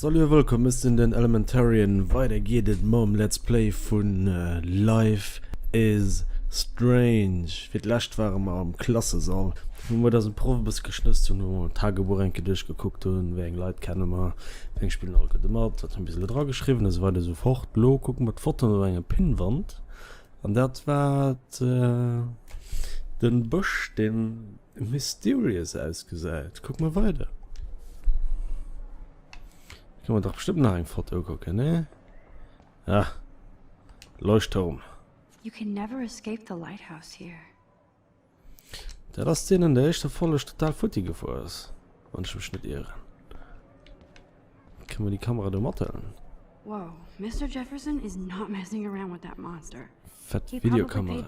Salut a wëllkomm, ech sinn den Elementarian. Weider geet et mam Let's Play vun Life is Strange. Fir d'lescht ware mer am Klassesall, wou mer dësen Proff e bësse geschnësst hunn, wou mer d'Tagebuch eng Kéier duerchgekuckt hunn, wéi eng Leit kenne mer, wéi eng spillen all gutt mat, wat hunn bis elo dra geschriwwen, esou weider esou fort. Elo kucke mer d'Fotoen op enger Pinnwand an dat war den Bësch, deen. Mysterious ausgesäit. Kuck mer weider. Kann man dach bestimmt nach eng Foto kucken, ne? Ja. Leuchtturm. You can never escape the lighthouse here. Dat ass deen an der éischter Folleg total futti gefuer ass, wann ech mech net ieren. Kann man déi Kamera do mathëllen? Wow, Mister Jefferson is not messing around with that monster. Fett Videokamera.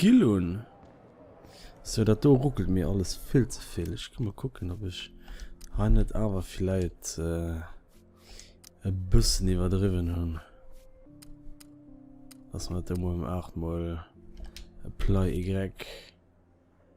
Skill un. Sou dat do ruckelt mir alles vill ze vill. Ech gi mol kucken op ech hei net awer villäit e bëssen iwwerdriwwen hunn. Dass mer dat do mol ëm 8 mol apply y.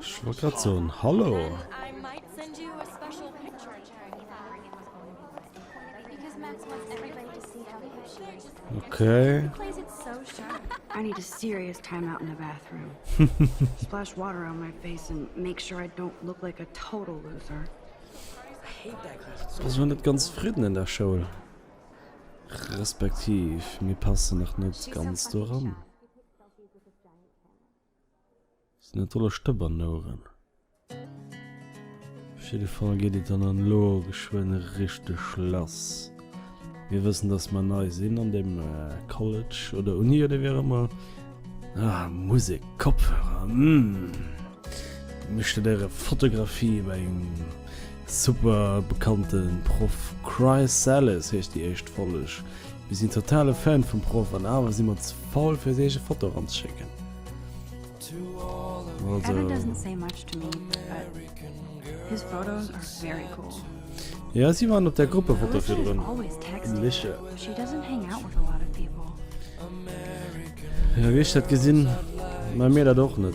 Ech wollt grad soen, Hallo! Okay. Ass elo net ganz zefridden an der Schoul. Respektiv, mir passen nach net ganz doran. Sinn dat dolle Stëbernouren? Op jidde Fall geet et dann elo geschwënn richteg lass. Mir wëssen, dass mer nei sinn an deem College oder Uni oder wéi och ëmmer. Ah, Musek, Kopfhörer, mmh. Mir studéiere Fotografie bei engem super bekannte Proff. Chrysalis heescht déi éischt Folleg. Mir sinn totale Fan vum Proff an awer si mer ze faul fir eis eege Foto eranzeschécken. Jo si waren op der Gruppefoto virdrun. Wéi ech dat gesinn, man mir dat och net.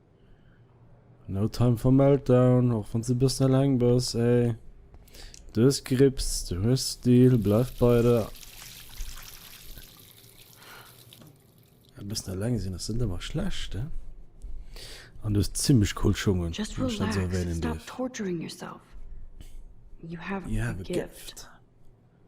No time for meltdown, och wann s de e bëssen eleng bass, ey. Du hues Grips, du hues Stil, bleift bei der. E bëssen eleng sinn ass net ëmmer schlecht, eh? An du hues zimmlech cool Schungen, wann ech dat esou erwänen dierf. You have a gift.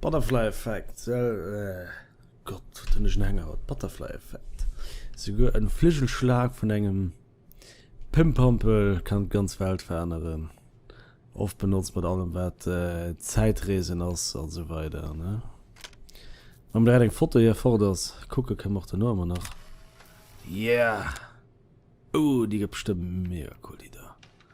Butterfly Effekt, Gott wat hunn ech en Hänger haut, Butterfly Effekt, souguer en Fligelschlag vun engem Pimpampel kann d'ganz Welt veränneren, oft benotzt mat allem wat Zäitreesen ass an esou weider ne. Mam direkt eng Foto hier fort ass, kucke kënnen mer och dono emmer nach, yeah, oh déi gëtt bestëmmt mega cool déi do.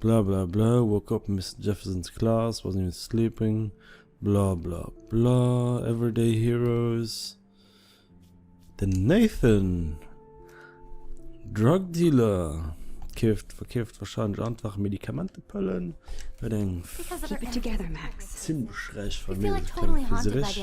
Bla bla bla Woke up Mister Jefferson's class wasn't even sleeping Bla bla bla Everyday heroes Den Nathan, Drug Dealer, keeft, verkeeft wahrscheinlech einfach Medikamentepëllen, huet eng zimlech räich Famill, ech kenne et vu Zürich.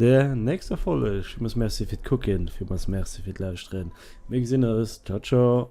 Der nächster Folleg. Villmools Merci fir d'Kucken, villmools Merci fir d'Lauschteren. Mir gesinn eis. Ciao ciao.